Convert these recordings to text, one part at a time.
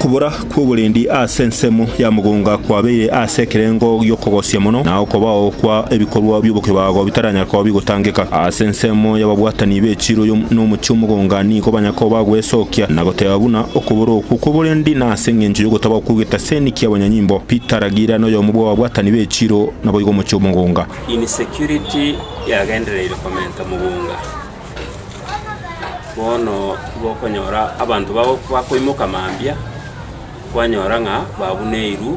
Okobora kw'oborendi ase ensemo ya mogonga kwabeire ase ekerengo gi'okogosia mono, na okobao kwa ebikorwa bi'obokebago bitaranyare koba bigotangeka. Ase ensemo y'ababwatani be chiroyo n'omochie omogonga nigo banya koba gwesokia na goteba buna okobora okwo kw'oborendi nase engencho y'ogotaba okwo getaseni ki'abanyanyimbo. Peter Ragira noyomo bw'ababwatani be chiro naboigo omochie omogonga. Insecurity yagendereire komenta mogonga. Bono tibokonyora abanto babo bakoimoka mambia, kwanyora ng'a babuneirwe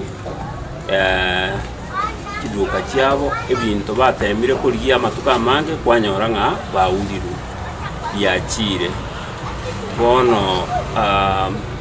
chiduka chiabo, ebinto batemire korigia amatuko amange, kwanyora ng'a baurirwe biachiire. Bono.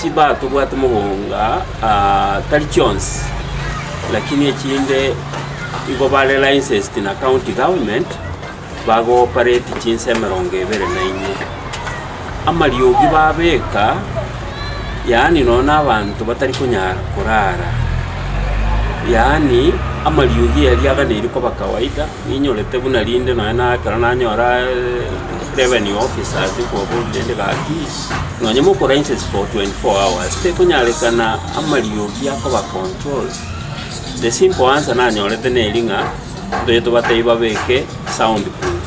Chibaa tobwate mogonga aa tari chionsi, lakini echinde igo bare licensed na county government bago operate chinsa emerongo ebere na inye. Amariogi babeka yaani nonya na abanto batari konyara korara, yaani amariogi aya riaganeirie koba kawaida, ninyorete buna rinde nonya na ekero nanyora revenue officers nkobaboria rende gaki. Nonya mokora incense for 24 hours tekonyarekana amariogi akoba control. The simple answer nanyorete neri ng'a ntoche tobatebie babeke sound proof.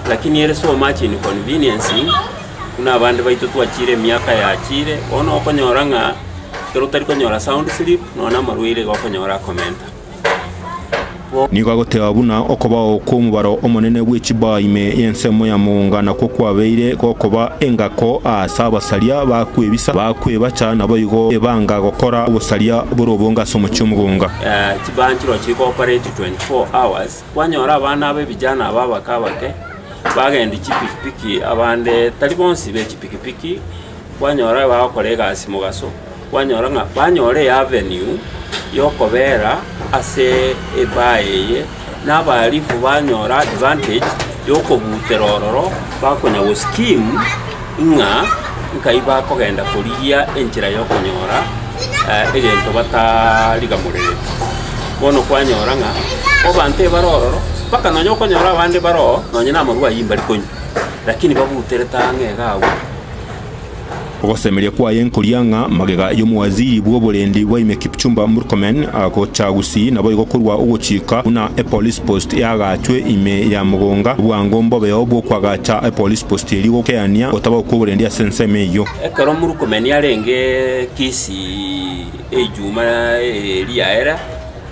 Lakini ere so much inconveniencing buna abande baito twachire emiaka yachire, bono okonyora ng'a ekero otari konyora sound slip nonye na amarwaire iga okonyora akomenta. Nigo agoteeba buna okobao kw'omobaro omonene bwe chibaa ime y'ensemo ya moonga nakwo kwabeire gokoba engako aase abasaria ba kwebisa, ba kwebacha, naboigo ebanga gokora obosaria bore obonge ase omochie omogonga. Chibaa nchiro chiri cooperate 24 hours, kwanyora abana abe vijana aba abake abake bagendia chipikipiki abande tari bonsi be chipikipiki, kwanyora bagokora egasi mogaso. Kwanyora ng'a banyora eavenue y'okobeera ase ebar eye, na abaalifu banyora advantage y'okobutera ororo bakonya goskim ng'a nkai bakogenda korigia enchera y'okonyora egento batarigamoreretie. Bono kwanyora ng'a abanto ebare ororo, mpaka nonya okonyora abande bare oo nonya namarwayi mbari konywa, lakini babuterete ang'e iga abwo. Ogosemeria kwaye nkoria ng'a magega y'omowaziri bw'oborendi bwaime Kipchumba Murkomen agocha gusii naboigo korwa ogochika buna epolice post eagachwe ime ya mogonga obwango mbobeo bw'okoagacha epolice post erio gokeania otabao kw'oborendi ase ensemo eyio. Ekero Murkomen arenge Kisii ejuma eria ere,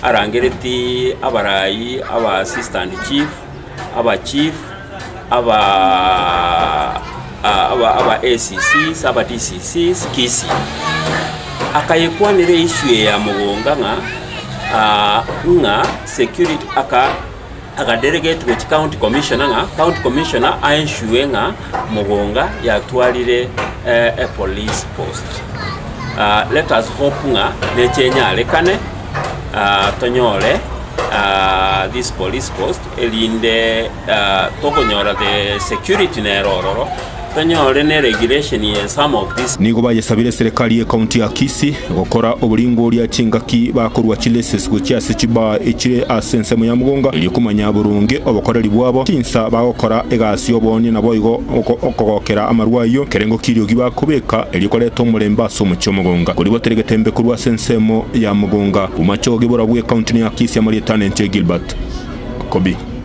arangereti abarai aba assistant chief, abachief, aba ACCs, aba DCCs, Kisii. Akayekwanera eissue eye ya Mogonga ng'a ng'a security aka aka delegate gochia county commissioner ng'a county commissioner a ensure ng'a Mogonga yatwarire epolice post. Let us hope ng'a neche enyarekane. tonyore this police post erinde tokonyora the security nere ororo, tonyore ne regulation ye some of this Nigo bayesabire eserekari ye county ya Kisii gokora oboringoria chingaki bakorua chileases gochia ase chibaa echire ase ensemo ya Mugunga erio komanya boronge obokoreri bwabo, chinsa bagokora egasi y'oboonye naboigo Okogokera amarwa ayio, kerengo kiriogi bakobeka, erio koreta omorembe ase omochie omogonga. Korigwa teri getembe korwa ase ensemo ya mogonga, bomache ogogebora bw'ekaunti ne Akisia marietano enchwe Gilbert. Kobi.